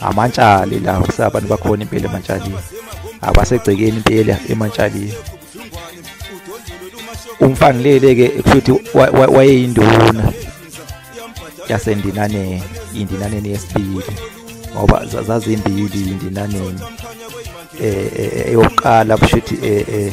amantshali la abantu bakhona impela emantshalini abasegcekeni impela emantshalini umfanilele ke futhi wayeyinduna yasendinaneni indinaneni yesibili ngoba zazimbili indinaneni eh, eh, eh eyokuqala kushuthi eh, eh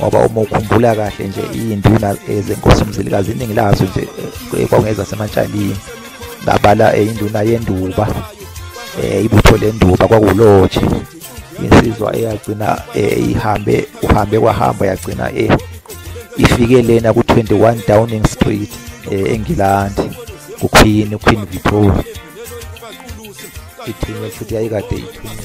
ngoba uma ukhumbula kahle nje iy'nduna eh, zenkosi umzilikazi iningi lazo nje eh, kwakungeza semantshalini ngabala eh, induna yenduba um ibutho lenduba kwakulotshe insizwa eyagcina um ihambe uhambe kwahamba yagcina um ifike lena ku-21 downing street um engilandi kuqueen uqueen victoria ithinywe futhi yayikade ithunywe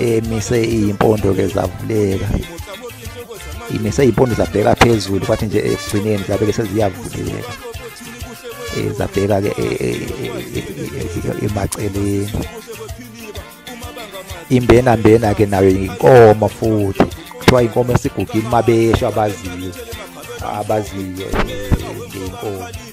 emise iyimpondo ke zavuleka imise iyimpondo zabheka phezulu kwathi nje ekugcineni zabe ke seziyavuleka eh, zabheka ke eh, eh, emaceleni imbena mbena ke nayo inkomo futhi kuthiwa inkomo esigugile mabesho abaziyo abaziyo ngenkomo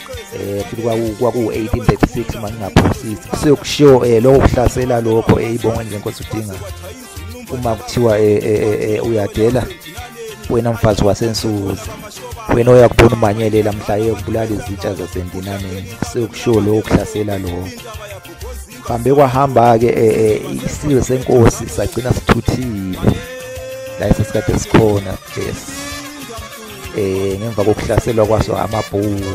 eh futhi kwaku-1836 uma ngingaphosisi kuseyokushiwo um eh, lokho kuhlasela lokho eh, ibonga nje nkosi udinga uma kuthiwa eh, uyadela wena mfazi wasensuzi wena oyakubona umanyelela mhla eyokubulala izitsha zasendinaneni kuseyokushiwo lokho kuhlasela lokho hambe kwahamba-ke um isizwe senkosi sagcina sithuthile la esesikade sikhona yes eh ngemva kokuhlaselwa kwaso amabhunu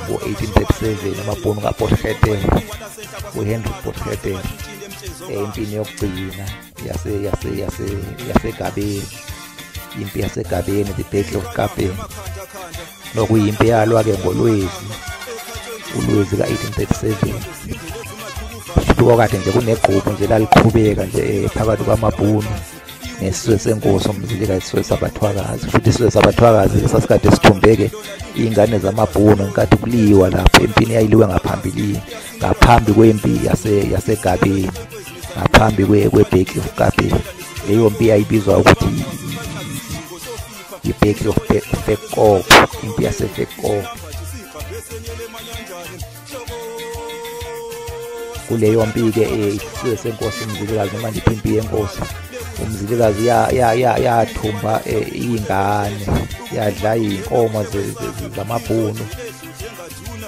ngo-1837 amabhunu kaporheter uhenry porheter eh, empini yokugcina yasegabeni impi yasegabeni the battle of kapeni nokuyimpi eyalwa-ke ngolwezi ulwezi ka-1837 shuthi kwakade nje kunegquphu nje laliqhubeka nje eh, phakathi kwamabhunu ngesizwe senkosi umzilikazi isizwe sabathwakazi futhi isizwe sabathwakazi sasikade sithumbeke iy'ngane zamabhunu ngenkathi kuliwa lapho empini yayiliwe ngaphambilini ngaphambi kwempi yasegabeni ngaphambi kwebheki yokugabe leyo mpi yayibizwa ukuthi ibheki yofekoko impi yasefekoko kuleyo mpi-ke isizwe senkosi umzilikazi noma ndiphi impi yenkosi umzilikazi yathumba e, iy'ngane yadla iy'nkomo zamabhunu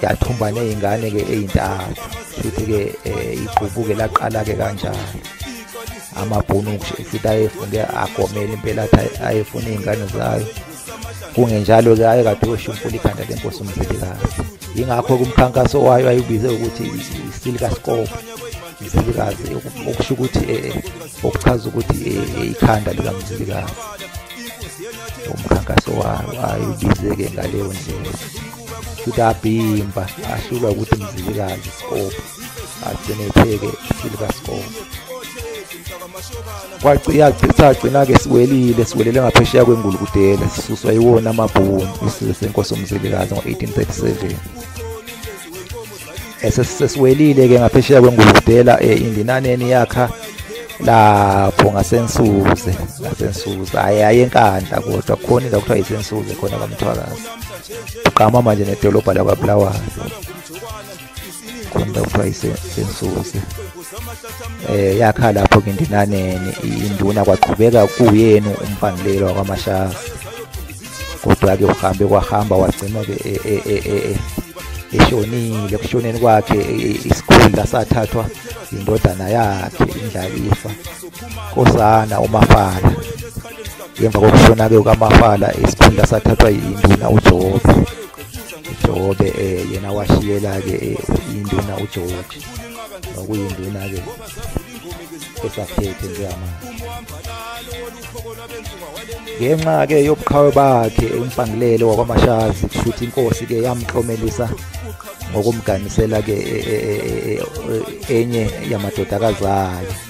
yathumba ney'ngane-ke ey'ntathu futhi-ke e, igqubuke laqala-ke kanjalo amabhunu futhi ayefunge agomele impela athi ayefuna iy'ngane zayo kungenjalo ke aye kade oshumpula ikhanda lenkosi umzilikazi yingakho kumkhankaso wayo ayibize ukuthi isilika scope umzilikazi okusho ukuthi eh, okuchaza ukuthi eh, ikhanda likamzilikazi umkhankaso wayo ayibize-ke ngaleyo ndlela futhi abhimba ahlulwa ukuthi mzilikazi scope agcine epheke silver score kwagcina-ke siwelile siwelele ngaphesheya kwengulu kudela sisuswa iwona amabhunu isizwe senkosi umzilikazi ngo-1837 esesiwelile-ke ngaphesheya kwengulu kudela um eh, indinaneni yakha lapho ngasensuze ngasensuze hhayi hhayi enkandla kodwa khona indawo kuthiwa yisensuze khona kwamthwakazi uqama manje nedolobha lakwabulawayo kumbe kuthiwa isensusi eh yakha lapho ke ndinaneni induna kwaqhubeka kuyena umpangilelo wakwamashaza kodwa ke uhambe kwahamba wagcina ke e, e, e, eshonile kushoneni kwakhe isikhundla sathathwa indodana yakhe indlalifa kosana umafala ngemva kokushona ke ukamafala isikhundla sathathwa induna uJobe Jobe eh yena washiyela ke eh, induna uJoji nokuyinduna ke esaphethe njengamanje ngenxa ke yobuqhawe bakhe umpangilelo wakwamashazi kushuthi inkosi ke yamklomelisa ngokumganisela ke e, e, e, enye yamadodakazi ayo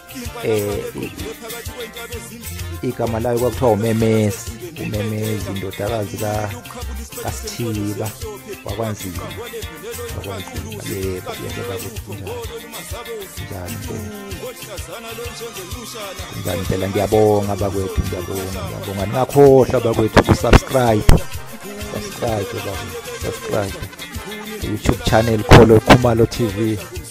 eh igama layo kwakuthiwa umemezi umemezi indodakazi ka kasithiba wakwanzima wakwanzima yebo yebo bakuthunjani njani njani phela ngiyabonga bakwethu ngiyabonga ngiyabonga ningakhohlwa bakwethu kusubscribe subscribe bakwethu subscribe youtube channel kholo khumalo tv